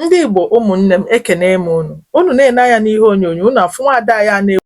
Ndị Igbo ụmụnne m ekene m unu unu na-ele anya n'ihe onyonyo unu afụ nwaada anyị a na-ewu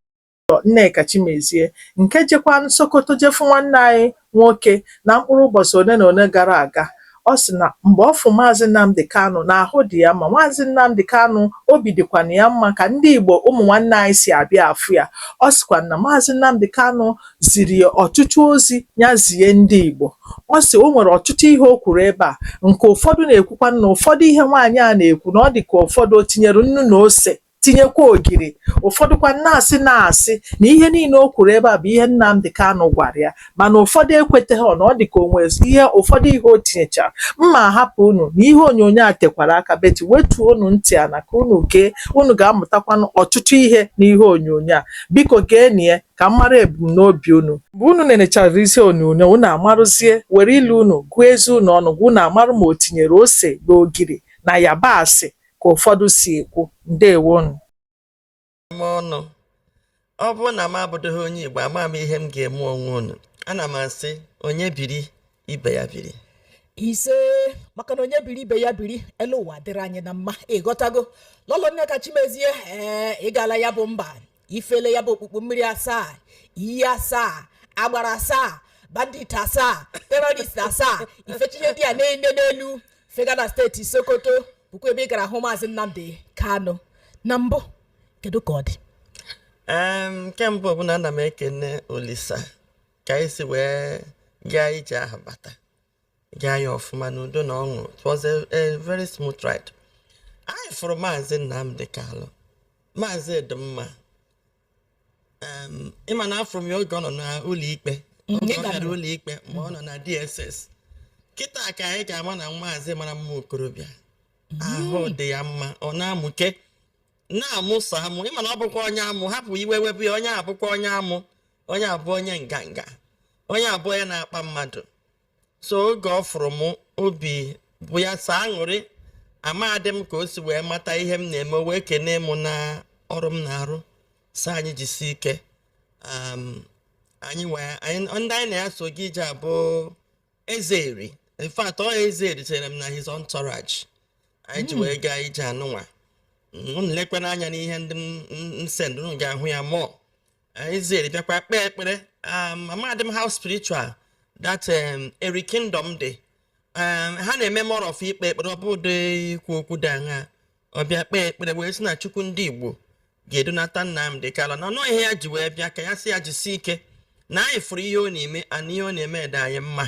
lọlọ Nneka Chimezie nke jekwanụ Sokoto je fụ nwanne anyị nwoke na mkpụrụ ụbọchị ole na ole gara aga ọ sị na mgbe ọ fụ maazị Nnamdi Kanu na ahụ dị ya mma maazị Nnamdi Kanu obi dịkwana ya mma ka ndị Igbo ụmụ nwanne anyị si abịa afụ ya ọ sịkwa na maazị Nnamdi Kanu ziri ya ọtụtụ ozi ya zie ndị Igbo ọ sị o nwere ọtụtụ ihe o kwuru ebe a nke ụfọdụ na-ekwukwa na ụfọdụ ihe nwaanyị a na-ekwu na ọ dị ka ụfọdụ o tinyere nnu na ose tinyekwa ogiri ụfọdụkwa na-asị na-asị na ihe niile o kwuru ebe a bụ ihe Nnamdi Kanu gwara ya mana ụfọdụ ekweteghị na ọ dị ka o nwe ihe ụfọdụ ihe o tinyechara mma hapụ unu na ihe onyonyo a tekwara aka beti wetuo unu ntị ana ka unu gee unu ga-amụtakwanụ ọtụtụ ihe na ihe onyonyo a biko geenụ ya ka m mara ebumnobi unu. Mgbe unu nenechara ihe onyonyo, unu amarụzie, were ile unu gụọ eze unu ọnụ ngwa unu amarụ ma o tinyere ose na ogiri na yabasị ka ụfọdụ si ekwu. Ndewonụ. m ọnụ ọ bụrụ na m abụdịghị onye igbo ama m ihe m ga-eme onwe unu ana m asị onye biri ibe ya biri ise maka na onye biri ibe ya biri elu ụwa dịrị anyị na mma ịghọtago lọlọ Nneka Chimezie ee ị gala ya bụ mba i fele ya bụ okpukpu mmiri asaa iyi asaa agbara asaa bandit asaa terrorist asaa i fechaa ihe ndị a niile n'elu fegaa na steeti sokoto bụkwa ebe ị gara hụ maazị Nnamdi Kanu na mbụ kedu ka ọ dị Em, nke mbụ bụ na ana m ekene olisa ka anyị si wee gaa ije ahụ bata gaa ya ọfụma n'udo na ọṅụ it was a, a very smooth ride anyị fụrụ maazị Nnamdi Kanu maazị dị mma em, ịma na afụrụ m ya oge ọ nọ n'ụlọ ikpe Mm, oge ọ bịara ụlọ ikpe mgbe ọ nọ na DSS kịta ka anyị ka ma na maazị mara mma okorobịa ahụ dị ya mma ọ na-amụke na-amụ sọ amụ ịma na ọ bụkwa onye amụ hapụ iwe wepụ ya onye a bụkwa onye amụ onye a bụ onye nganga onye a bụ onye na-akpa mmadụ so oge ọ fụrụ m obi bụ ya sọ aṅụrị amadị m ka o si wee mata ihe m na-eme wee kenee m na ọrụ m na-arụ sị anyị jisi ike um, anyị wee ndị anyị na ya so gaa ije bụ eze Eri in fact ọ eze Eri chịrị m na his entourage anyị ji hmm. wee gaa ije anụnwa unu lekwana anya n'ihe ndị m send unu ga-ahụ ya mụọ eze Eri bịakwa kpee ekpere um, amadị m how spiritual that um, eri kingdom dị um, ha na-eme more of ikpe ekpere ọ bụdịghị ikwu okwu dị aṅa ọ bịa kpee ekpere wee sị na chukwu ndị igbo ga-edunata Nnamdi Kanu na ọ bụ ihe ya ji wee bịa ka ya sị ya jisi ike na anyị fụrụ ihe ọ na-eme na ihe ọ na-eme dị anyị mma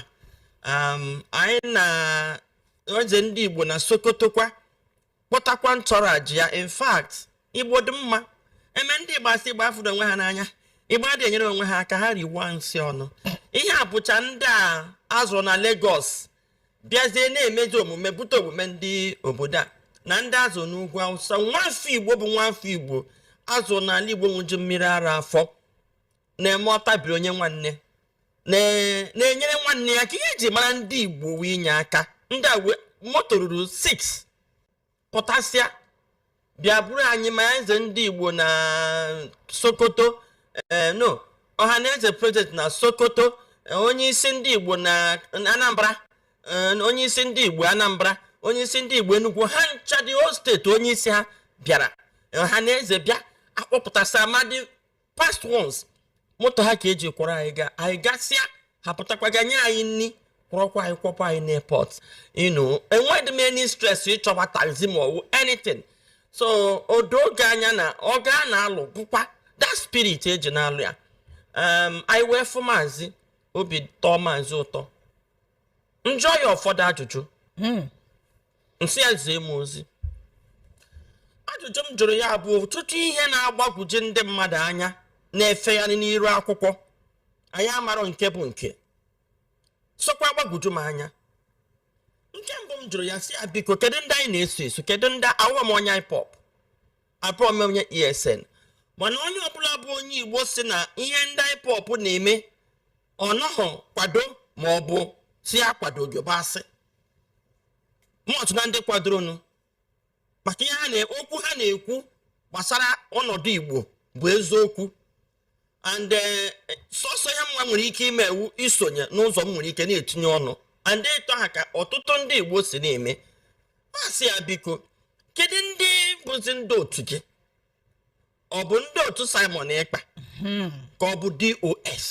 anyị na eze ndị igbo na sokotokwa kpọtakwa entourage ya in fact igbo dị mma e mee ndị igbo a sị igbo afụrọ onwe ha n'anya igbo adịghị enyere onwe ha aka ha riwa nsị ọnụ ihe a bụcha ndị a zụrụ na Lagos bịazie na-emezi omume bute omume ndị obodo a na ndị a zụ n'ugwu awụsa nwafọ igbo bụ nwafọ igbo a zụ n'ala igbo ṅụju mmiri ara afọ na-eme ọ tabiri o nye nwanne na- na-enyere nwanne ya aka ihe eji mara ndị igbo wụ inye aka ndị a wee moto ruru 6 pụtasịa bịa buru anyị ma eze ndị igbo na sokoto eh, no ọha na eze president na sokoto eh, onye isi ndị igbo na na anambra eh, onye isi ndị igbo anambra onye isi ndị igbo enugwu ha ncha the whole state onye isi ha bịara ọha na eze bịa a kpọpụtasịa ma ndị past ones moto ha ka eji kwọrọ anyị gaa anyị gasịa ha pụtakwa gaa nye anyị nri kwọrọkwa anyị kwọkwa anyị n'airport you know enweghị m any stress ịchọwa taxi ma ọ wụ anything so o doo gị anya na ọgụ a na-alụ wụkwa that spirit eji na-alụ ya um, anyị wee fụ maazị obi tọọ maazị ụtọ m jụọ ya ụfọdụ ajụjụ m sị ya zie m ozi ajụjụ m jụrụ ya bụ ọtụtụ ihe na-agbagwoju ndị mmadụ anya na-efegharị n'iru akwụkwọ anyị amarọ nke bụ nke sokwa agbagwoju m anya nke mbụ m jụrụ ya sị ya biko kedu ndị anyị na-eso eso kedu ndị awụọ m onye ipob abụọ m onye esn mana onye ọbụla bụ onye igbo sị na ihe ndị ipob na-eme ọ nọghọ akwado ma ọ bụ sị ya akwadoghị bụ asị m wụ otu na ndị kwadoronụ maka ihe ha na okwu ha na-ekwu gbasara ọnọdụ Igbo bụ eziokwu and eh, sọsọ ihe mụwa nwere ike ime wụ isonye n'ụzọ m nwere ike na-etinye ọnụ and ito ha ka ọtụtụ ndị Igbo si na-eme m asị ya biko kedu ndị bụzi ndị otu gị ọ bụ ndị otu Simon Ekpa hmm. ka ọ bụ DOS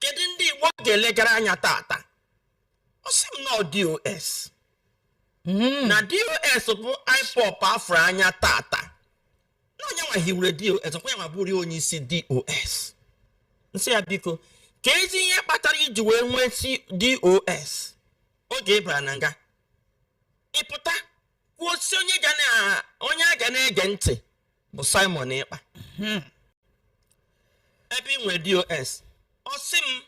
kedu ndị Igbo ga-elegara anya tata ọ sị m na ọ dos Mm. na dos bụ ipob a fụrụ anya tata na ọ ya nwa hiwere dos ọkwa ya nwa bụrụ onye isi dos m sị ya biko keezi ihe kpatara i ji wee nwesịa dos oge ị bara na nga ị pụta kwuo sị onye ga na onye a ga na-ege ntị bụ simon ekpa ebe i nwere dos ọ sị m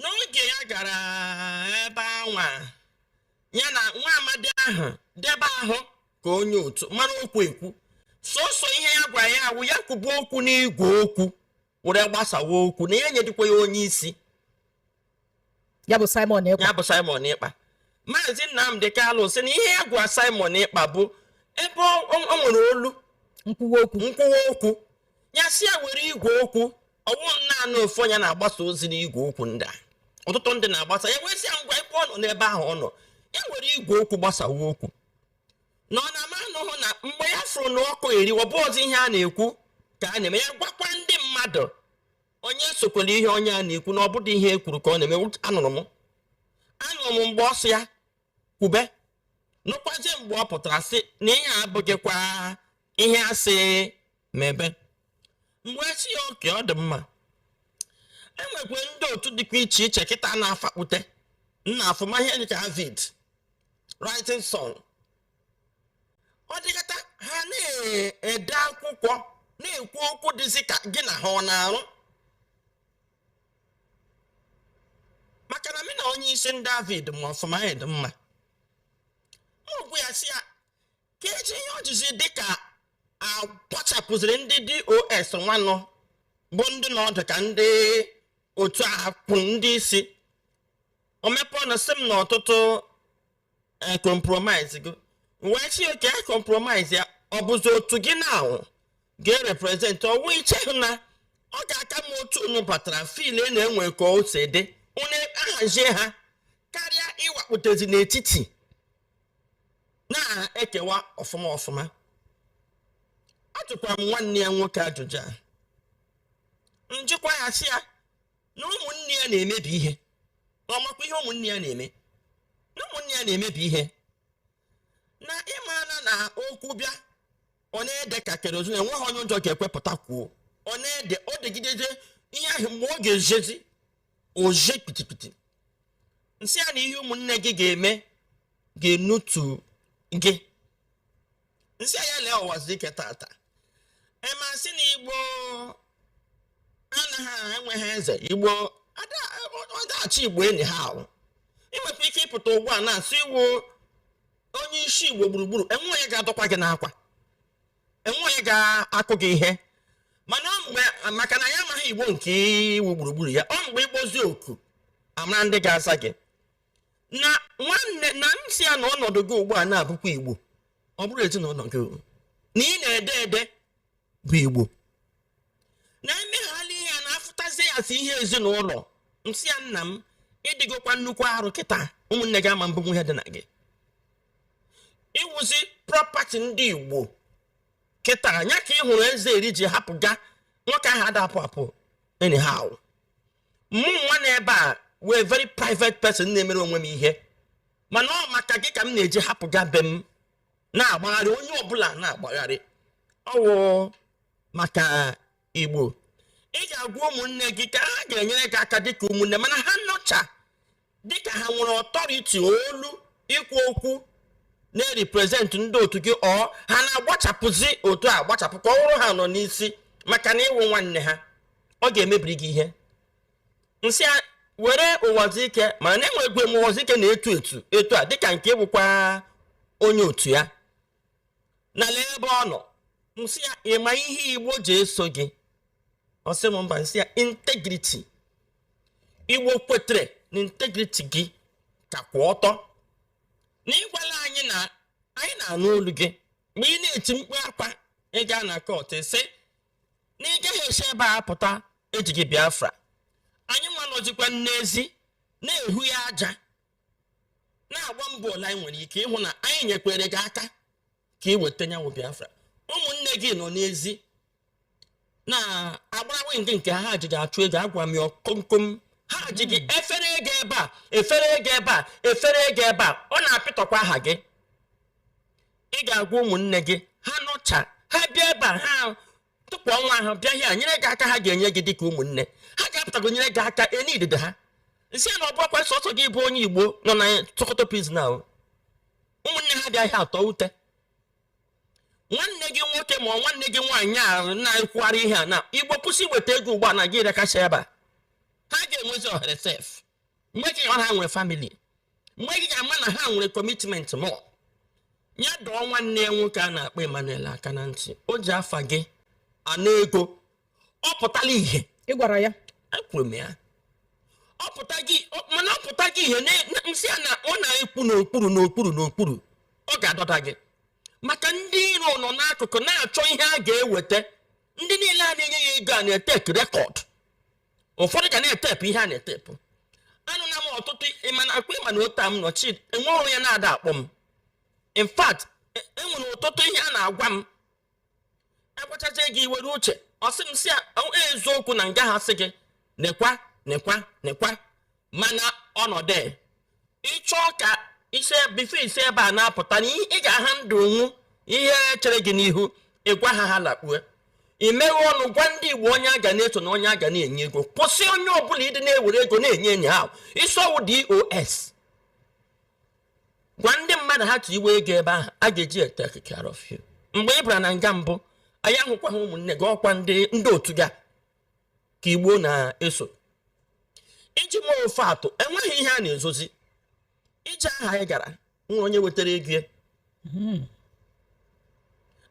n'oge ya gara ebe anwa ya na nwa amadi ahụ dị ebe ahụ ka onye otu mara okwu ekwu sọsọ ihe ya gwara ya awụ ya kwubu okwu n'igwe okwu were gbasawa okwu na ya enyedịkwa ya onye isi ya bụ Simon Ekpa maazị Nnamdi Kanu sị na ihe ya gwa Simon Ekpa bụ ebe o nwere olu nkwuwa okwu ya sị ya were igwe okwu ọ wụ naanị ofu onye na-agbasa ozi n'igwe okwu ndị a ọtụtụ ndị na-agbasa ya wee sị ya ngwa ebe ọ nọ n'ebe ahụ ọ nọ ya were igwe okwu gbasawa okwu na ọ na-ama anụhụ na mgbe ya fụrụ na ọkụ eri ọ bụzi ihe a na-ekwu ka a na-eme ya gwakwa ndị mmadụ onye esokwala ihe onye a na-ekwu na ọ bụdị ihe e kwuru ka ọ na-eme anụrụ m anụrụ m mgbe ọ sị ya kwube nụkwazie mgbe ọ pụtara sị na ihe a abụghịkwa ihe a sị mebe mgbe sị ya okay ọ dị mma e nwekwa ndị otu dịkwa iche iche kịta na-afapute nna afụma ihe dịka avid rising sun ọ dịkata ha na-ede akwụkwọ na-ekwu okwu dịzi ka gị na ha ọ na-arụ maka na m na onye isi ndị avid ma ọfụma dị mma okwu ya sị ya kedị ihe o jizi dịka a kpọchapụziri ndị dos nwanụ bụ ndị na ọdụ ka ndị otu a kwụ ndị isi o mepe ọnụ sị m na ọtụtụ compromise gị wee sị okay a compromise ya ọ bụzi otu gị na ahụ ga-ereprezentị ọ wụ i cheghị na ọ ga-aka mma otu unu batara fil e na-enwe ka o si dị unu ahazie ha karịa ịwakpụtazi n'etiti na-ekewa ọfụma ọfụma ajụkwara m nwanne ya nwoke ajụjụ a m jikwa ya sị ya na ụmụnne ya na-emebi ihe na ọ makwa ihe ụmụnne ya na-eme na ụmụnne ya na-emebi ihe na ị mara na okwu bịa ọ na-ede ka kerozin enweghị onye ụjọ ga-ekwe pụta kwuo ọ na-ede o degidezi ihe ahụ mgbe ọ ga-ejezi o je kpitikpiti m sị ya na ihe ụmụnne gị ga-eme ga-enutu gị m sị ya lee ụwazi ike tata ema sị na igbo anaghị enweghị eze igbo ọdachi igbo enyi ha ahụ i nwekwa ike ịpụta ugbu a na-asị ị wụ onye isi igbo gburugburu enweghị onye ga-adọkwa gị n'akwa enweghị ga-akụ gị ihe mana ọ mgbe maka na ya amaghị igbo nke ị wụ gburugburu ya ọ mgbe ị kpọzi oku a mara ndị ga-aza gị na nwanne na m sị ya na ọnọdụ gị ugbu a na-abụkwa igbo ọ bụrụ ezinụlọ gị o. na ị na-ede ede bụ igbo na emeghala ihe a na-afụtazi ya sị ihe ezinụlọ m sị ya nna m ị dịgokwa nnukwu arụ kịta ụmụnne gị ama ebunwu ihe dị na gị ị wụzi property ndị igbo kịta nya ka ị hụrụ eze eri ji hapụga nwoke ahụ ada apụ apụ anyhow mụ nwa nọ ebe a wụ very private person na-emere onwe m ihe mana ọ maka gị ka m na-eji hapụga be m na-agbagharị onye ọbụla na-agbagharị ọ wụ maka igbo ị ga-agwa ụmụnne gị ka ha ga-enyere gị aka dịka ụmụnne mana ha nọcha dịka ha nwere authority olu ikwu okwu na-erepresent ndị otu gị ọ ha na-agbachapụzi otu a gbachapụ ka ọ wụrụ ha nọ n'isi maka na ị wụ nwanne ha ọ ga-emebiri gị ihe m sị were Uwazuruike mana na-enwegwe m Uwazuruike na-etu etu etu a dịka nke bụkwa onye otu ya na lee ebe ọ nọ m sị ya ị ma ihe igbo ji eso gị ọ sị m mba m sị ya integrity igbo kwetere na integrity gị ka kwụ ọtọ na ị gwala anyị na anyị na-anụ olu gị mgbe ị na-eti mkpu akwa ị gaa na court sị na ị gaghị esi ebe a pụta ejighị biafra anyị nwa nọzikwa n'ezi na-ehu ya aja na-agba mbọ ole anyị nwere ike ịhụ na anyị nyekwere gị aka ka ị weta nya wụ biafra ụmụnne gị nọ n'ezi na-agbara wing nke ha ji gị achụ ego agwa m ya komkom ha ji gị hmm. efere ego ebe a efere ego ebe a efere ego ebe a ọ na-apịtọkwa aha gị ị ga-agwa ụmụnne gị ha nọcha ha bịa ebe a ha tọgbọ onwe ha ebe a nyere gị aka ha ga-enye gị dịka ụmụnne ha ga-apụtago nyere gị aka enye idide ha m sị na ọ bụrụkwa sọsọ gị bụ onye igbo nọ na Sokoto prison ahụ ụmụnne ha bịa ebe a tọọ ute nwanne gị nwoke ma nwanne gị nwaanyị a na-ekwugharị ihe a na igbo kwụsị iweta ego ugbu a na gị rekasha ebe a ha ga-enwezi ohere sef mgbe ji ọ ha nwere family mgbe ị ga-ama na ha nwere commitment mọ ya dọọ nwanne ya nwoke a na-akpọ Emmanuel aka na ntị o ji afa gị ana ego ọ pụtala ihe ị gwara ya ekwuru m ya ọ pụtaghị ọ- mana ọ pụtaghị ihe na- na- m sị ya na ọ na-ekwu n'okpuru n'okpuru n'okpuru ọ ga-adọda gị maka ndị iro nọ n'akụkụ na-achọ ihe a ga-eweta ndị niile a na-enye ya ego a na-etake record ụfọdụ ga na-etepụ ihe a na-etepụ anụla m ọtụtụ ịma na ọkwa ịma na otu a m nọ chi enwere onye na-ada akpọ m in fact e- enwere ọtụtụ ihe a na-agwa m agwachacha gị iwere uche ọ sị m sị ya "Ọ- eziokwu na nga ha sị gị nekwa nekwa nekwa mana ọnọdụ ịchọ ka isi before isi ebe a na-apụta na ị ga-aha ndụ ọ wụ ihe chere gị n'ihu ịgwa ha ha lakpue imeghe ọnụ gwa ndị igbo onye a ga na-eso na onye a ga na-enye ego kwụsị onye ọbụla ịdị na-ewere ego na-enye onye ahụ ị sị ọ wụ DOS gwa ndị mmadụ ha tiwe ego ebe ahụ a ga-eji take care of you mgbe ị bara na nga mbụ anyị ahụkwaghị ụmụnne gị ọkwa ndị otu gị ka igbo na-eso iji mee ife atụ enweghị ihe a na-ezozi ije aha anyị gara ọ wụ onye wetara ego ya hmm.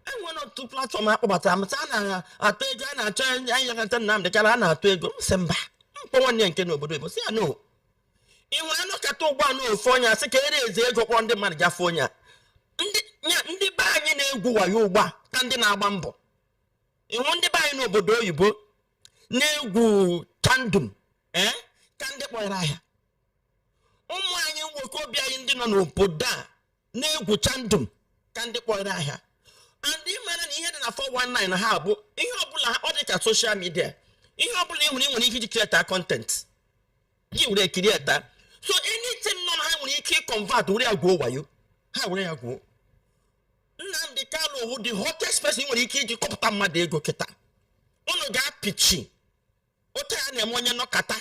enwere otu platform a kpọbatara m a na-atụ ego a na-achọ anyị yakọta Nnamdi Kanu a na-atụ ego m sị mba m kpọọ nwanne ya nke nọ obodo Igbo sị ya no ị nwere a nọkata ugbu a ofu onye asị ka e raise ego kpọrọ ndị mmadụ gafe onye a ndị be anyị na-egwu wayo ugbu a ka ndị na-agba mbọ ị hụ ndị be anyị n'obodo oyibo na-egwu chandum ee eh, ka ndị kpọrọ ahịa ụmụ anyị nwoke obi anyị ndị nọ n'obodo a na-egwu chandum ka ndị kpọrọ ahịa and ị mara na ihe dị na 419 na ha bụ ihe ọbụla ọ dị ka social media ihe ọbụla ị nwere ị nwere ike iji create content gị were create so anything nọ na ha nwere ike iconvert were ya gwuo wayo ha were ya gwuo Nnamdi Kanu wụ the hottest person e nwere ike iji kọpụta mmadụ ego kịta unu ga-apịchi otu a na-eme onye nọkata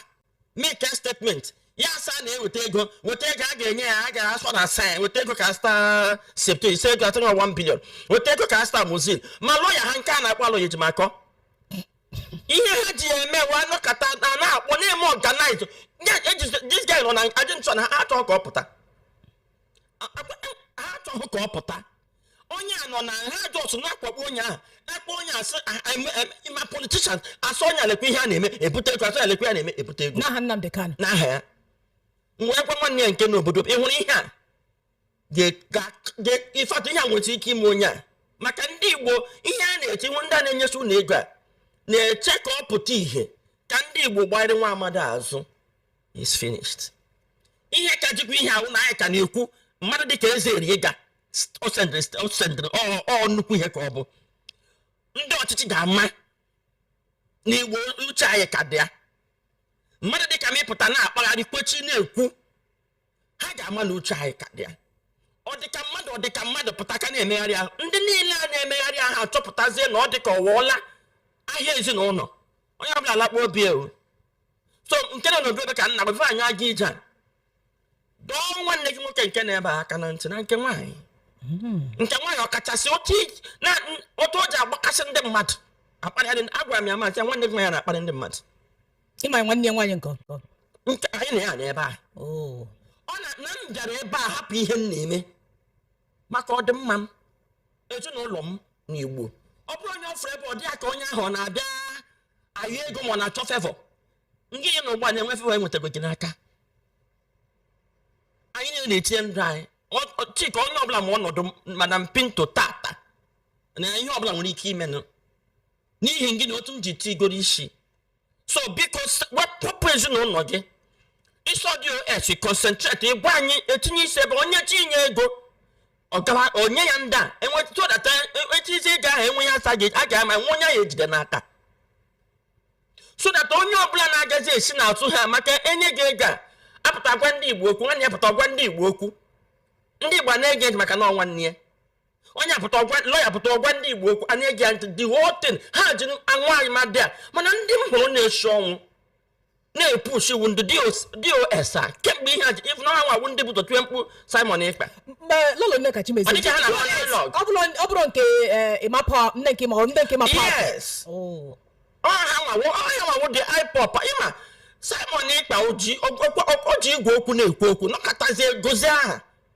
make a statement ya asị na-eweta ego weta ego a ga-enye ya a ga-asị na asị ya weta ego ka a zụta septo ise ego atụrụ ya 1 billion weta ego ka a zụta mozil ma lawyer ha nke a na-akpọ Aloy Ejimakor ihe ha ji ya eme wụ a nọkata na na-akpọ na-eme organize this guy nọ na jail so na ha achọghị ka ọ pụta A- a- a- ha achọghị ka ọ pụta onye a nọ na ha just na-akpagbu onye ahụ akpọ onye asị "Ah, ah, em- em- ma politician asị onye a lekwa ihe a na-eme ebute ego asị ya lekwa ihe a na-eme ebute ego n'aha Nnamdi Kanu n'aha ya m wee gwa nwanne ya nke nọ obodo m, ị hụrụ ihe a Ga- ga- ga- ịfatụ ihe a nwere ike ime onye a maka ndị igbo ihe a na-eche ị hụ ndị a na-enyesi unu ego a na-eche ka ọ pụta ihe ka ndị igbo gbanyere nwa amadi azụ is finished ihe ka jikwa ihe a wụ na anyị ka na-ekwu mmadụ dịka eze eri ịga o sendịrị ọ nnukwu ihe ka ọ bụ ndị ọchịchị ga-ama na igbo uche anyị ka dị ya mmadụ dịka m ịpụta na-akpagharị kwechi na-ekwu ha ga-ama na uche anyị ka dị ya ọ dịka mmadụ ọ dịka mmadụ pụta ka na-emegharị ahụ ndị niile a na-emegharị ahụ achọpụtazie na ọ dịka ọwụọla ahịa ezinụlọ onye ọbụla lakpuo obi ewu so nke na n'obi ebe ka nna gbafe anyị aga ije a dọọ nwanne gị nwoke nke na-ebe aka na ntị na nke nwaanyị hmm. nke nwaanyị ọkachasị otu o ji agbakasị ndị mmadụ akparị agwara m ya m sị nwanne gị nwaanyị na-akparị ndị mmadụ ịma ya nwanne ya nwaanyị nke ọkọ nke anyị na ya nọ ebe a oo ọ na na m bịara ebe a hapụ ihe m na-eme maka ọdịmma m ezinụlọ m na igbo ọ bụrụ onye ọ fụrụ ebe ọ dị ya ka onye ahụ ọ na-abịa ayọ ego ma ọ na-achọ favour ndị ya na ụgbọ na-enwe favour enwetago gị n'aka anyị niile na-etinye ndụ anyị Ọ- ọ- chika onye ọbụla ma ọnọdụ m- madam pinto tata na ihe ọbụla nwere ike imenụ n'ihi gị na otu m ji tigoro isi so biko wepụ ezinụlọ gị iso dos concentrate ịgwa anyị etinye isi ebe onye chi inye ego ọ gawa onye ya ndị a enwetụdata echizi ego ahụ enwe ya asa gị a ga-ama nwa onye ya ejide n'aka so that onye ọbụla na-agazi esi n'azụ ha maka enye gị ego a apụta gwa ndị igbo okwu nwanne ya pụta gwa ndị igbo okwu ndị igbo na-ege maka na ọ nwanne ya onye apụta ọ gwa lawyer pụta ọ gwa ndị igbo okwu anyị ege ntị the whole thing ha ji anwụ anyị ma dị a mana ndị m hụrụ na-esi ọnwụ na-epush ọ wụ ndị dos a kemgbe ihe a ji even ha nwa wụ ndị bu ụzọ tie mkpu simon ekpa mgbe lolo nneka chimezie Ọ dịghị ha na ha dialogue. ọ bụrụ ọ bụrụ nke eh, ịmapa nne nke ma ọ nne nke ma pa yes Oh. ọ ha nwa wụ ọ ya nwa wụ ndị ipob ị ma simon ekpa o ji o- o- o- o ji igwe okwu na-ekwu okwu nọkatazie gozie aha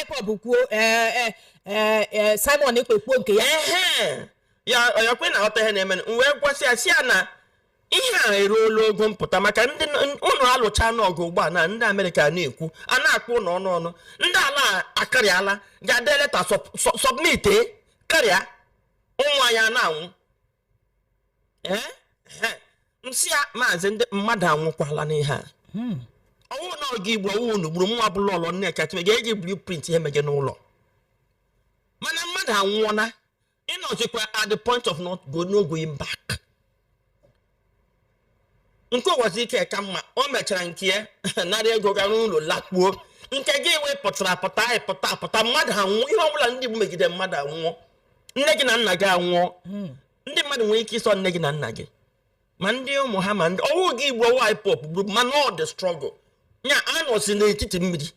ipob kwuo ee ee ee ee simon ekpa kwuo nke ya Ehe. ya ya kwe na aghọta ihe na-eme m wee gwasị ya sị ya na ihe a eruola ogo mpụta maka ndị n- ụnụ alụchaana ọgụ ugbu a na ndị amerịka na-ekwu a na-akpọ ụnụ ọnụ ọnụ ndị ala a akarịala ga-ede leta sọb- sọ- submit e, karịa ụmụ anyị a na-anwụ ee m sị ya maazị ndị mmadụ anwụkwala n'ihe a hmm. ọ wụ na ọ gị gburu ọ wụ unu gburu nwa bụ lolo nneka chime ga-eji blueprint ihe mege n'ụlọ mana mmadụ anwụọla ị nọzikwa at the point of not go no going back nke uwazuruike ka mma o mechara nke ya nara ego gara ụlọ lakpuo nke gị wee pụtara pụta anyị pụta pụta mmadụ anwụọ ihe ọbụla ndị Igbo megide mmadụ anwụọ nne gị na nna gị anwụọ hmm. ndị mmadụ nwere ike iso nne gị na nna gị ma ndị ụmụ ha ma ndị ọ wụ gị gburu ọ wụ ipob gburu mana ọ dị struggle ya a nọzi n'etiti mmiri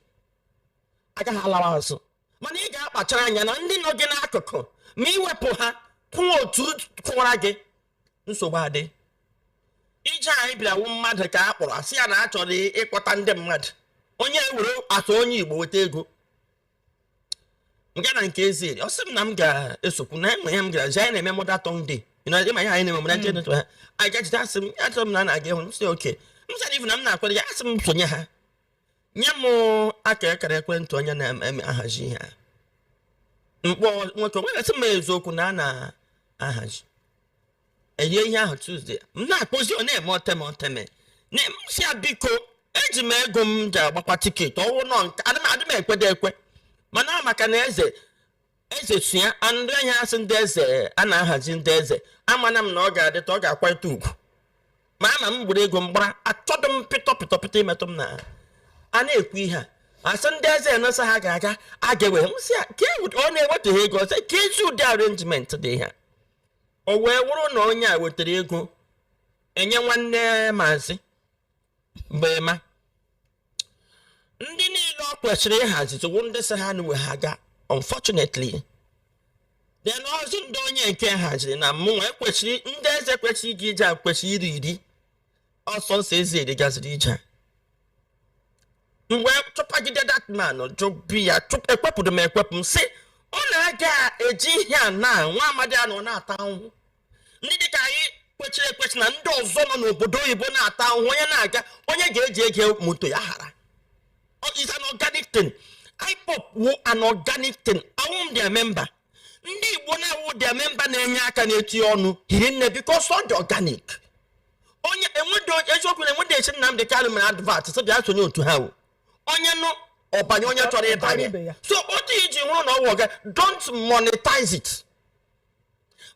agaghị alawa azụ mana ị ga-akpachara anya na ndị nọ gị n'akụkụ ma i wepụ ha kwụọ otu kụwara gị nsogbu adị ihe anyị bịa wụ mmadụ ka a kpọrọ a sị ya na a chọrọ ịkpọta ndị mmadụ onye were atụ onye igbo weta ego nga na nke ezi ọ sị m na m ga-esokwu na enwe ya m gara jee na-eme mother tongue day ịma ihe anyị na-eme mọda jee ha anyị gajide asị m achọrọ m na a na-aga ịhụ m sị okay m sara ifu na m na-akwado ya a sị m sonye ha nye m aka akara ekwentị onye na-ahazi ihe a m kpọọ nwoke wee sị m eziokwu na a na-ahazi inye ihe ahụ Tuesday m na-akpọzi ọ na-eme oteme oteme na m sị ya biko eji m ego m ji agbakwa ticket ọ wụ nọ nke adị m adị m ekwede ekwe mana maka na eze eze so ya a- ndị ahịa a sị ndị eze a na-ahazi ndị eze amana m na ọ ga-adịta ọ ga-akwalite ugwu ma ama m gburu ego m gbara achọdụ m pịtọ pịtọ pịtọ imetụ m na a na-ekwu ihe a a sị ndị eze na sọ ha ga-aga a ga-ewe m sị ya ka e wet- ọ na-ewetaghị ego ọzọ ka ezi ụdị arrangement dị ihe a o wee wụrụ na onye a wetara ego inye nwanne maazị mgbe ma ndị niile ọ kwesịrị ịhazi tụwụ ndị sị ha nwe ha ga unfortunately then ọzọ ndị onye nke haziri na mmụnwa ekwesịrị ndị eze kwesịrị ije ije a kwesịrị iru iri ọ sọsọ eze Eri gaziri ije m wee chụpagide that man jụbi ya ekwepụrụ m ekwepụ m sị ọ na-aga eji ihe a na nwa amadi a nọ na-ata ahụhụ ndị dịka anyị kwechiri ekwechi na ndị ọzọ nọ n'obodo oyibo na-ata ahụhụ onye na-aga onye ga-eji ego moto ya hara Ọ- is an organic thing IPOB wụ an organic thing awụ m their member ndị igbo na-awụ their member na-enye aka na-eti ọnụ hiri nne because ọ dị organic onye enwedo eziokwu na enwedo esi Nnamdị Kanu mere advert sị bịa sonye otu ha wụ onye nụ ọ banye onye chọrọ ịbanye so otu i ji hụrụ na ọ wụ orga- don't monetize it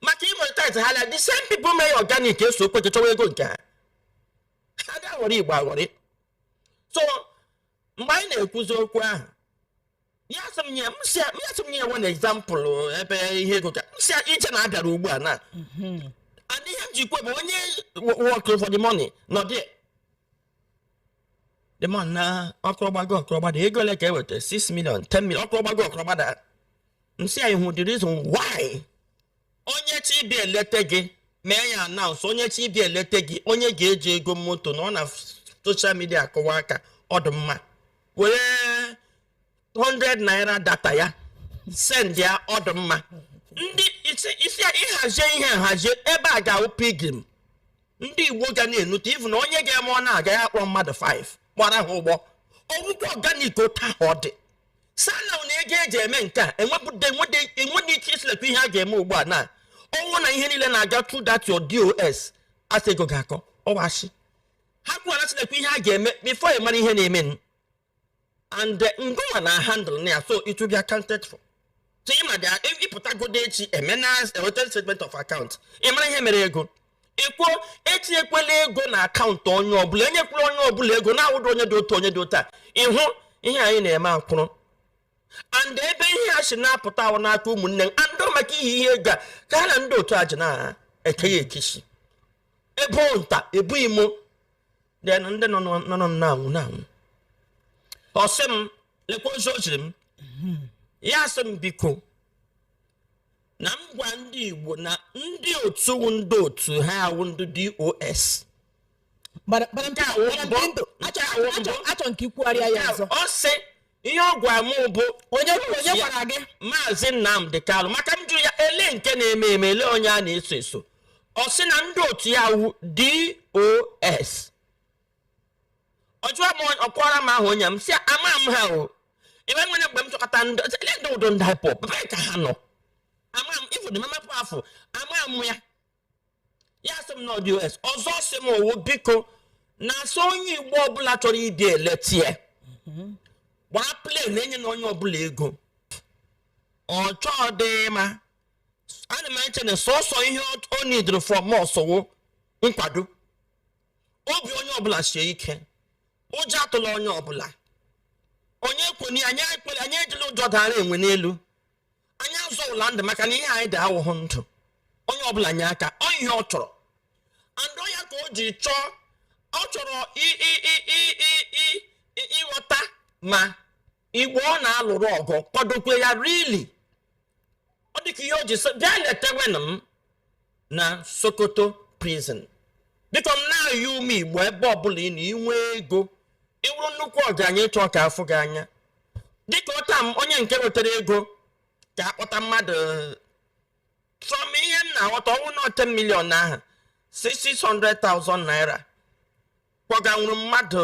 maka i monetize ha na the same people mee ya organic esokwu jee chọwa ego nke ha a dị aghọrị igbo aghọrị so mgbe anyị na-ekwuzi okwu ahụ ya sị m nye m sị ya ya sị m nye ya one example ebe ihe ego ka m sị ya ije na a bịara ugbu a na and ihe m ji kwe bụ onye work for the money nọ there the man na ọkụrọgbago ọkụrọgbada ego ole ka e weta 6 million 10 million ọkụrọgbago ọkụrọgbada m sị ya ị hụ the reason why onye chọọ ịbịa eleta gị mee ya announce onye chọọ ịbịa eleta gị onye ga-eji ego moto nọ na social media a kụwa aka ọ dụ mma were 100 naira data ya send ya ọ dị mma ndị isi isi ịhazie ihe nhazie ebe a ga-awụ pilgrim ndị igbo ga na-enute ivu na onye ga-eme ọ na-aga ya kpọrọ mmadụ 5 gbara ha ụgbọ ọ wụkwa organic otu ahụ ọ dị sana na ego eji eme nke a enwedị ike ịsị lekwa ihe a ga-eme ugbu a na ọ wụ na ihe niile na-aga through that your dos asị ego ga-akọ ọwashi ha kwuwara sị lekwa ihe a ga-eme before ị mara ihe na-eme and eh, ngụwa na handle na ya so it will be accounted for so ị ma bịa ị pụtagodu echi emena hotel statement of account ị mara ihe mere ego ị kwuo etinyekwela ego na akaụntụ onye ọbụla enyekwela onye ọbụla ego na-awụdụ onye dị otu onye dị otu a ị hụ ihe anyị na-eme akwụrụ and ebe ihe a si na-apụta wụ n'aka ụmụnne m and ọ maka ihe ihe ego a ka ha na ndị otu a ji na-ekeghị ekechi ebu nta ebu imo then ndị nọ nọ- nọ nọ na-anwụ na-anwụ ọ sị m lekwa ozi o ziri m ya sị m biko na m gwa ndị igbo na ndị otu wụ ndị otu ha awụ ndị dos Madam- Madam Nke a wụ Madam mbụ. Pinto, Nke a achọ- wụ achọ- mbụ. achọ nke ikwugharịa ya ọzọ ọ sị ihe ọ gwara m bụ onye gwara gị maazị nnamdi kanu maka m jụrụ ya ele nke na-eme eme ele onye a na-eso eso ọ sị na ndị otu ya wụ dos ọ jụọ m onye- ọ kọọrọ m ahụ onye m si ama m ha o ebe nwere mgbe m chọkọta ndị ọzọ, ele ndị ụdọ ndị ipob ebe ka ha nọ ama m ụfọdụ mamapụ afọ ama m ya ya sị m na ọ dos ọzọ sị m owo biko na asị onye igbo ọbụla chọrọ ịbịa eletie gbaa plane enyena onye ọbụla ego ọ chọdị ma ana m eche na sọsọ ihe ọ needrọ from us wụ nkwado obi onye ọbụla sie ike ụjọ atụla onye ọbụla onye kwene anyị ejila ụjọ dara enwe n'elu anyị azọwụla ndụ maka na ihe anyị dị awụhụ ndụ onye ọbụla nye aka ọ ihe ọ chọrọ and ọ ya ka o ji chọọ ọ chọrọ ịghọta ma igbo ọ na-alụrụ ọgụ kwadokwe ya really ọ dịka ihe o ji sị bịa letewenụ m na sokoto prison biko m na-ayọ ụmụ igbo ebe ọbụla ị nọ i nwee ego ị wụrụ nnukwu ọgaranya ị chọọ ka afụ gị anya dịka ọta m onye nke wetara ego ka akpọta mmadụ from ihe m na-aghọta ọ wụ na 10 million ahụ 600,000 naira kpọganwuru mmadụ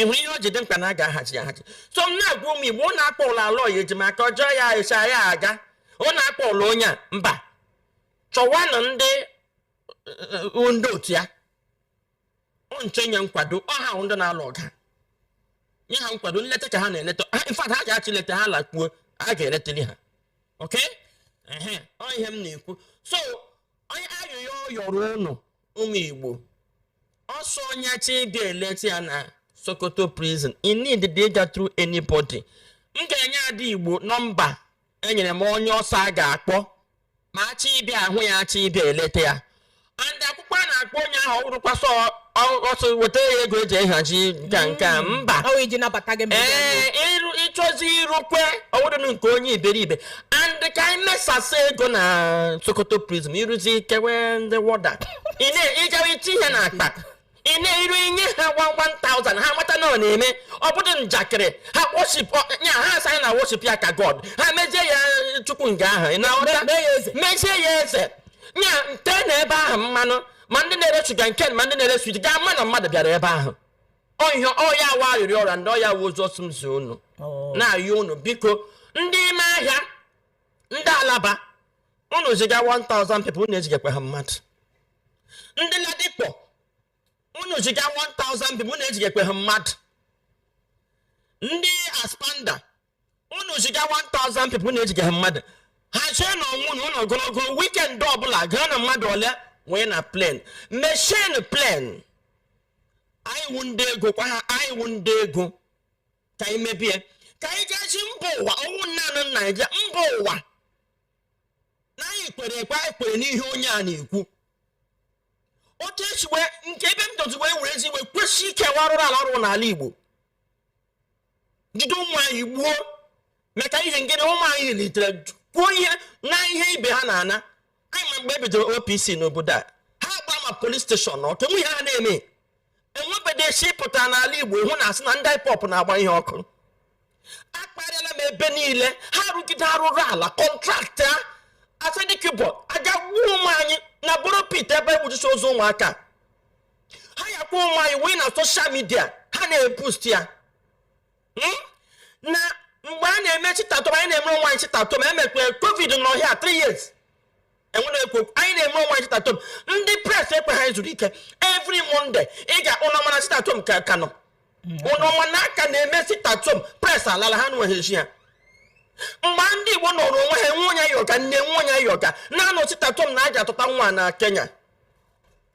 ị hụrụ ihe o ji dị mkpa na a ga-ahachi ya ahachi so m na-agwa ụmụ igbo ụnụ akpọla aloy ejimakor jụọ ya esi ya aga ụnụ akpọla onye a mba chọwanụ ndị uh, ndị otu ya nche nye nkwado ọha ahụ ndị na-alụ ọgụ nye ha nkwado nleta ka ha na-eleta in fact ha ga-achị leta ha lakpuo a ga-eleteli ha okay ọ ihe m na-ekwu so onye ayịyọ yọrọ ụnụ ụmụ igbo ọ sị onye chi ịbịa eleta ya na sokoto prison i need to ịga through anybody m ga-enye ndị igbo nọmba enyere m onye ọ sị a ga-akpọ ma achị ịbịa ahụ ya achị ịbịa eleta ya and akwụkwọ a na-akpọ onye ahụ ọ wụrụkwa ọ sị weta ya ego eji ahazi nka nke a mba Ọ wụ iji nabata gị ma ị bịa. ee ịrụ ịchọzi irukwe ọ wụrụnụ nke onye iberibe and ka anyị mesasa ego na sokoto prison iruzi kewe ndị warder ị na-ejewe iche ihe na akpa ị na-eru inye ha 1000 ha mata na ọ na-eme ọ bụdị njakịrị ha worship ọ- ya ha asị na worship ya ka god ha mezie ya chukwu nga ahụ ị na-aghọta? mee ya eze. mezie ya eze ya tee na ebe ahụ mmanụ ma ndị na-ere sugarcane ma ndị na-ere sweet ga ama na mmadụ bịara ebe ahụ ọ ya wụ arịrịọ ọ rịọrọ ndị ọ ya wụ ozi ọ sị m zie unu Oh. na-ayọ unu biko ndị ime ahịa ndị alaba unu ziga 1000 people unu ezigakwaha mmadụ ndị ladipo unu ziga 1000 people unu ezigakwaha mmadụ ndị aspamda unu ziga 1000 people unu ezigaha mmadụ hazienụ onwe unu ogologo weekend ọbụla gaa na mmadụ ole wee na plane meshin plane anyị wụ ndị ego kwa ha anyị wụ ndị ego ka anyị mebie ka anyị gosi mba ụwa ọ wụghị naanị naijiria mba ụwa na anyị kwere ekwe anyị kwere n'ihe onye a na-ekwu otu esi wee nke ebe m dozi wee were ezi wee kwesị ike warụrụ ala ọrụ n'ala igbo jide ụmụ anyị gbuo maka ihe ngịrị ụmụ anyị litere kwuo ihe na ihe ibe ha na-ana anyị ma mgbe ebidoro OPC n'obodo a ha gba ma police station ọkụ nwe ihe ha na-eme enwebede si pụtara n'ala Igbo hụ na asị na ndị IPOB na-agba ihe ọkụ akparịala m ebe niile ha rụgide arụrụ ala contract asari dokubo aga gbuo ụmụ anyị na borrow pit ebe egbujusi ozu ụmụaka ha ya kpọọ ụmụ anyị wee na social media ha na-eboast ya Hmm? na mgbe a na-eme sit at home anyị na-emere onwe anyị sit at home emekwe covid n'ọhịa 3 years enwere ekwu okwu. anyị na-eme onwe anyị sit at home ndị press ekwe ha zuru ike every monday ị ga-akpụ n'ọnwa na sit at home ka ka nọ ụnọnwa na aka na-eme sit at home press alala ha nweghị eji ya mgbe ndị igbo nọrọ onwe ha enwe onye yọga nne enwe onye yọga na-anọ sit at home na aja atụta nwa na kenya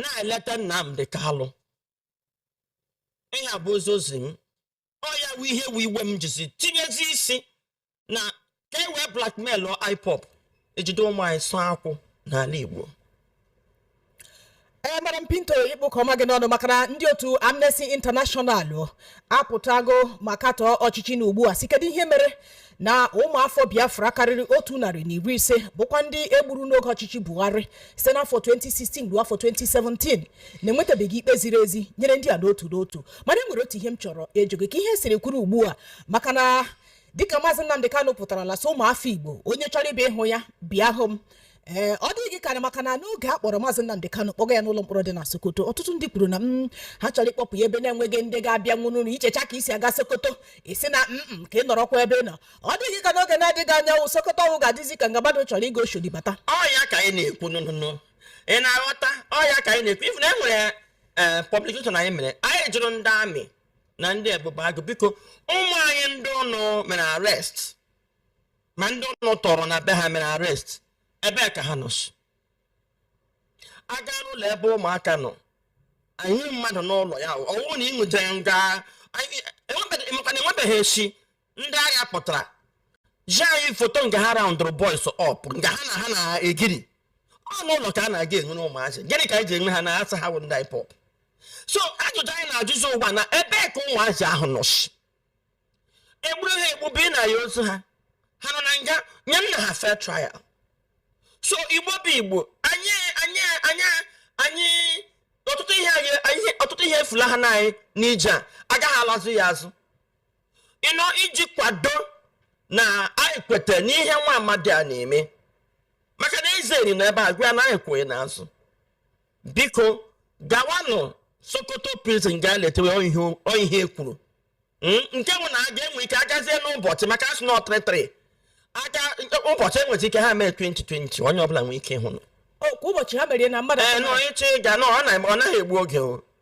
na-eleta Nnamdi Kanu ihe a bụ ozi ozi m ọ ya wụ ihe wụ iwe m jizi tinyezi isi na ka e wee blackmail IPOB ejide ụmụ anyị sụọ akwụ n'ala Igbo ee madam pinto ịkpụ ka ọma gị n'ọnụ maka na ndị otu amnesty international apụtago ma katọọ ọchịchị nọ ugbu a sị kedu ihe mere na ụmụafọ biafra karịrị otu narị na iri ise bụkwa ndị e gburu n'oge ọchịchị buhari site n'afọ 2016 ruo afọ 2017 na-enwetabeghị ikpe ziri ezi nyere ndị a n'otu n'otu mana e nwere otu ihe m chọrọ ịjụ gị ka ihe siri kwụrụ ugbu a maka na dịka maazị nnamdi kanu pụtarala sị ụmụafọ igbo onye chọrọ ịbịa ịhụ ya bịa hụ m ee ọ dịghị gị karị maka na n'oge a kpọrọ maazị Nnamdi Kanu kpọga ya n'ụlọ mkpọrọ dị na Sokoto ọtụtụ ndị kwuru na mm, ha chọrọ ịkpọpụ ya ebe na-enweghị ndị ga-abịanwu na i checha ka i si aga Sokoto ị sị na mm ka ị nọrọkwa ebe ị nọ ọ dị gị ka n'oge na-adịghị anya wụ Sokoto ọhụ ga-adịzi ka nga mmadụ chọrọ ịga Oshodi bata ọ ya ka anyị na-ekwu nụnụnụ ị na-aghọta ọ ya ka anyị na-ekwu ị fụ na e nwere ee publication anyị mere anyị jụrụ ndị army na ndị ebube agụ biko ụmụ anyị ndị ụnụ mere arrest ma ndị ụnụ tọrọ na be ha mere arrest ebe ka ha nọsị a gaa n'ụlọ ebe ụmụaka nọ anyị mmadụ n'ụlọ ya ọwụ na ịṅụja ya nga emekwana enwebeghị echi ndị agha pụtara zi anyị foto nga ha roundụrụ boys up nga ha na ha na-egiri ọ n'ụlọ ka a na-aga enwere ụmụazị gịnị ka anyị ji enwe ha na a sị ha wụ ndị IPOB so ajụjụ anyị na-ajụzi ugbu a na ebe ka ụmụazị ahụ nọsị e gburu ha egbu bunye anyị ozu ha ha nọ na nga nyenụ ha fair trial so igbo bụ igbo anyị anyị ọtụtụ ihe efulaha anyị n'ije a agaghị alazụ ya azụ ịnọ iji kwado na anyị kweta n'ihe nwa amadi a na-eme maka na eze eri na ebe a gwa ya na anyị kwụ gị n'azụ biko gawanụ sokoto prison gaa letewe ihe e kwuru hmm? nke bụ na a ga-enwe ike agazie n'ụbọchị maka a sị na ọ three three kwa ụbọchị enweta ike ha mee 2020 onye ọbụla nwee ike ịhụ kwa ụbọchị ha mere na mmadụ ee nọ ịchị ịga na ọ naghị egbu oge o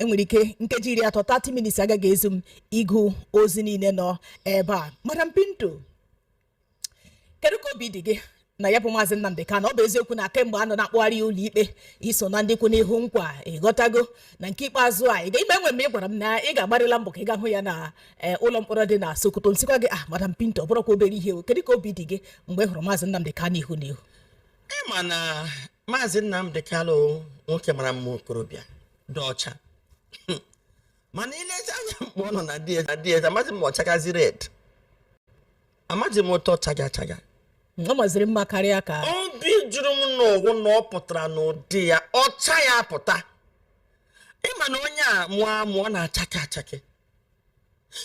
enwere ike nkeji iri atọ 30 minutes agaghị ezu m ịgụ ozi niile nọ ebe a madam pinto kedu ka obi dị gị na ya bụ maazị nnamdi kanu ọ bụ eziokwu na kemgbe a nọ na-akpụgharị ya ụlọikpe i so na ndị kwụ n'ihu ọ kwa ị ghọtago na nke ikpeazụ a ị ga ime enwe m ị gwara m na ị ga-agbarịla mbọ ka ị ga hụ ya na eh, ụlọ mkpọrọ dị na sokoto m sịkwa gị ah madam pinto ọ bụrọkwa obere ihe o kedu ka obi dị gị mgbe ị hụrụ maazị nnamdi kanu ihu n'ihu ịma na maazị Nnamdi Kanu nwoke mara mma okorobịa dị ọcha mana ilezi anya mgbe ọ nọ na DSS amaghị m ọchagazi red amaghị m otu ọ chaga chaga ọ maziri mma karịa ka obi jụrụ m n'ọ wụ na ọ pụtara n'ụdị ya ọcha ya pụta ịma na onye a mụọ amụ ọ na-achake achake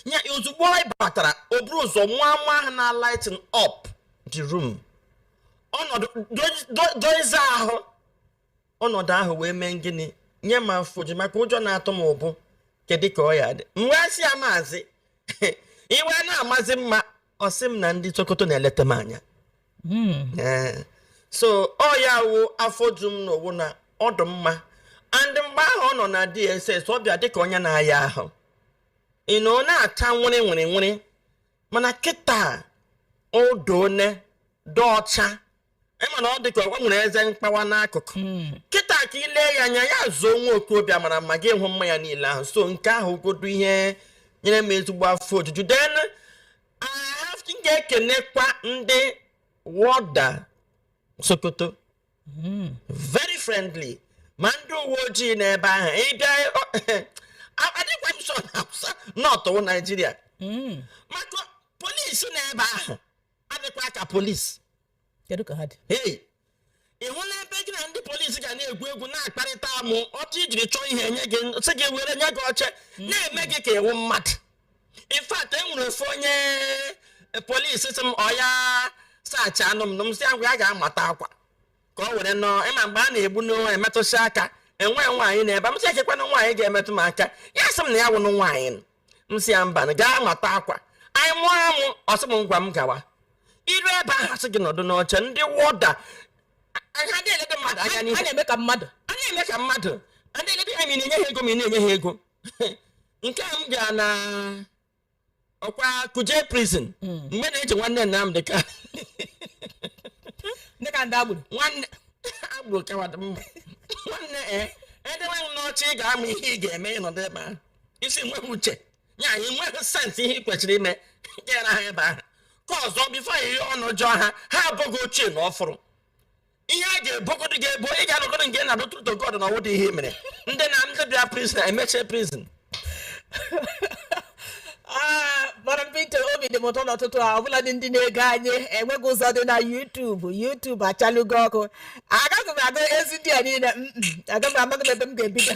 ya ozugbo anyị batara o buru ụzọ mụa amụ ahụ na lighten up the room ọnọdụ dozie ahụ ọnọdụ ahụ wee mee gịnị nye m afọ oju maka ụjọ na-atụ mụ bụ kedu ka ọ ya-adị m wee sị ya maazị ị wee na-amazi mma ọ sị m na ndị Sokoto na-eleta m anya Mm. Ee. so ọ ya wụ afọ ju m n'ọ wụ na ọ dị mma and mgbe ahụ ọ nọ na DSS ọ bịa dịka onye na-aya ahụ ị na ọ na-acha weri weri weri mana kịta o doone dị ọcha ịma na ọ dị ka ọ nwere eze mkpawa n'akụkụ hmm. kịta ka ị lee ya anya ya zuo nwa okorobịa mara mma gị hụ mma ya niile ahụ so nke ahụ godu ihe nyere m ezigbo afọ ojuju then m ga-ekenekwa ndị wọda Sokoto hmm. very friendly ma ndị uwe ojii n'ebe ahụ ịbịa adịkwa m sure na North wụ Naijiria hmm. maka polisi n'ebe ahụ adịkwa ka polisi kedu ka ha dị hey ị hụla ebe gị na ndị polisi ga na-egwu egwu na-akparịta amụ otu i jiri chọọ ihe enye gị sị gị were nye gị oche hmm. na-eme gị ka ị wụ mmadụ in fact enwere ofu onye e, polisi sị m ọ ya search anụ m na m si agwa ya gaa mata akwa ka ọ were nọọ ịma mgbe a na-egbu n'onwe emetụsị aka enwe nwaanyị n'ebe m sị kekwanụ nwaanyị ga-emetụ m aka ya sị m na ya wụnụ nwaanyị m sị ya mba gaa mata akwa anyị mụọ amụ ọ sị m ngwa m gawa i ru ebe ahụ a sị gị nọdụ n'oche ndị wọda ha na-elede mmadụ anya n'ihu a na-eme ka mmadụ a na-eme ka mmadụ a na-elede ha ma ị na-enye ha ego ma ị na-enye ha ego nke a m ga na ọkwa Kuje prison hmm. mgbe na-eji nwanne Nnamdị Kanu ndị ka ndị agburu nwanne agburu kawadị mma nwanne e eh, edewe m n'ọchị ị ga-ama ihe ị ga-eme ị nọdụ ebe ahụ isi nweghị uche ya anyị nweghị sense ihe ị kwesịrị ime gara ha ebe ahụ ka ọzọ before ihe ọnụ jụọ ha ha abụghị ochie na ọfụrụ ihe a ga-ebogodo gị ebo ị ga-alụgodo nke na dụtụ to God na ọ wụdị ihe mere ndị na ndị bịa prison emeche prison ah, mana Peter obi dị m ụtọ n'ụtụtụ a ọbụla dị ndị na-ege anyị enweghị ụzọ dị na YouTube YouTube achalugo ọkụ agaghị m agụzi ndị a niile agaghị m amaghị ebe m ga-ebido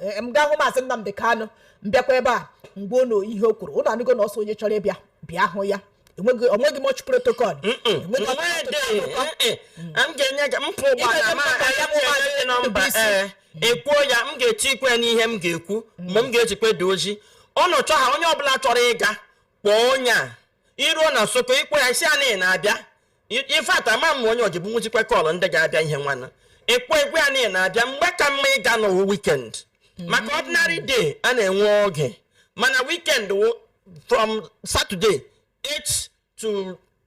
Ee, m gaa hụ maazị Nnamdị Kanụ m bịakwa ebe a m gwa unu ihe o kwuru unu anụgo na ọ sị onye chọrọ ịbịa bịa hụ ya enweghị onweghị much protocol enweghị Ọ maghị dị, eh, eh, m ga-enye gị mpụ ụgbọala Ịga-eje ma mba ka ya bụ etinyere maazị gị nọmba Ndụbụisi. ee ekwuo ya m ga-etikwe ya n'ihe m ga-ekwu mgbe m ga-ezikwe dị ozi ọnụ chọ ha onye ọbụla chọrọ ịga kpọọ onye a i ruo na Sokoto ị kpọọ ya ị sị anị na-abịa in fact ama m onye ọjibụ nwụchikwa kọọlụ ndị ga-abịa ihe nwanna ịkpọ egwu anị na-abịa mgbe ka mma ịga na-awụ weekend mm-hmm. maka ordinary day a na-enwe oge mana weekend from Saturday 8 to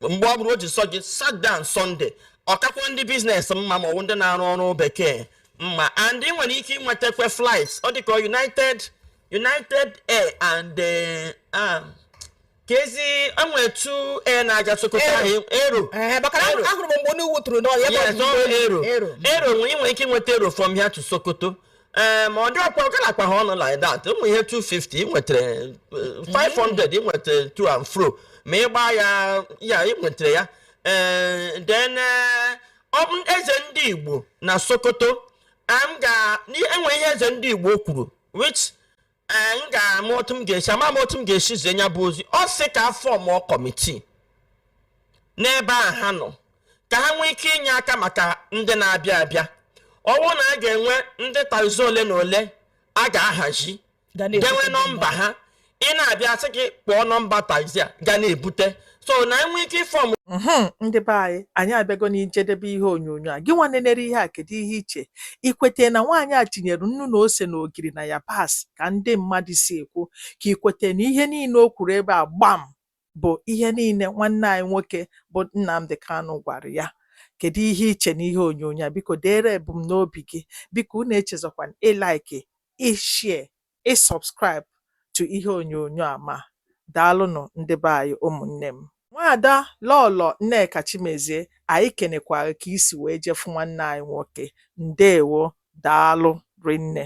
mgbe ọ bụrụ o ji sọ gị Saturday and Sunday ọ kakwa ndị business mma ma ọ wụ ndị na-arụ ọrụ bekee mma and ị nwere ike ịnwetakwa flight ọ dịka united united air and eh, ah, ka ezi e nwere two air na-aga sokoto ahụ Aero Aero Aero nwere ike ịnweta Aero from here to sokoto ee ma ọ dị ọkwa ọ galakwa ha ọnụ like that ụmụ ihe 250 ị nwetara eh, 500 ị nwetara to and fro ma ị gbaa ya ya ị nwetara ya ee then eh, ọ bụ eze ndị igbo na sokoto m ga enwe ihe eze ndị igbo kwuru which ee m ga-ama otu m ga-esi ama m otu m ga-esi zie ya bụ ozi ọ sị ka a fọmụọ committee n'ebe a ha nọ ka ha nwee ike inye aka maka ndị na-abịa abịa ọ wụ na a ga-enwe ndị taxi ole na ole a ga-ahazi Ga na-ebute ga-enwe nọmba ha ị na-abịa sị gị kpọọ nọmba taxi a ga na-ebute so na e nwee ike ịfọm mhm, ndị be anyị anyị abịago n'ijedebe ihe onyonyo a gị nwa nenere ihe a kedu ihe i che i kwete na nwaanyị a tinyere nnu na ose na ogiri na yabasị ka ndị mmadụ si ekwu ka i kwete na ihe niile o kwuru ebe a gbam bụ ihe niile nwanne anyị nwoke bụ Nnamdi Kanu gwara ya kedu ihe i che na ihe onyonyo a biko deere ebumnobi gị biko unu echezọkwana ị like ị share ị subscribe to ihe onyonyo a ma daalụnụ ndị be anyị ụmụnne m nwaada lọlọ nneka chimezie anyị kenekwara ka i si wee je fụ nwanne anyị nwoke ndewo daalụ rinne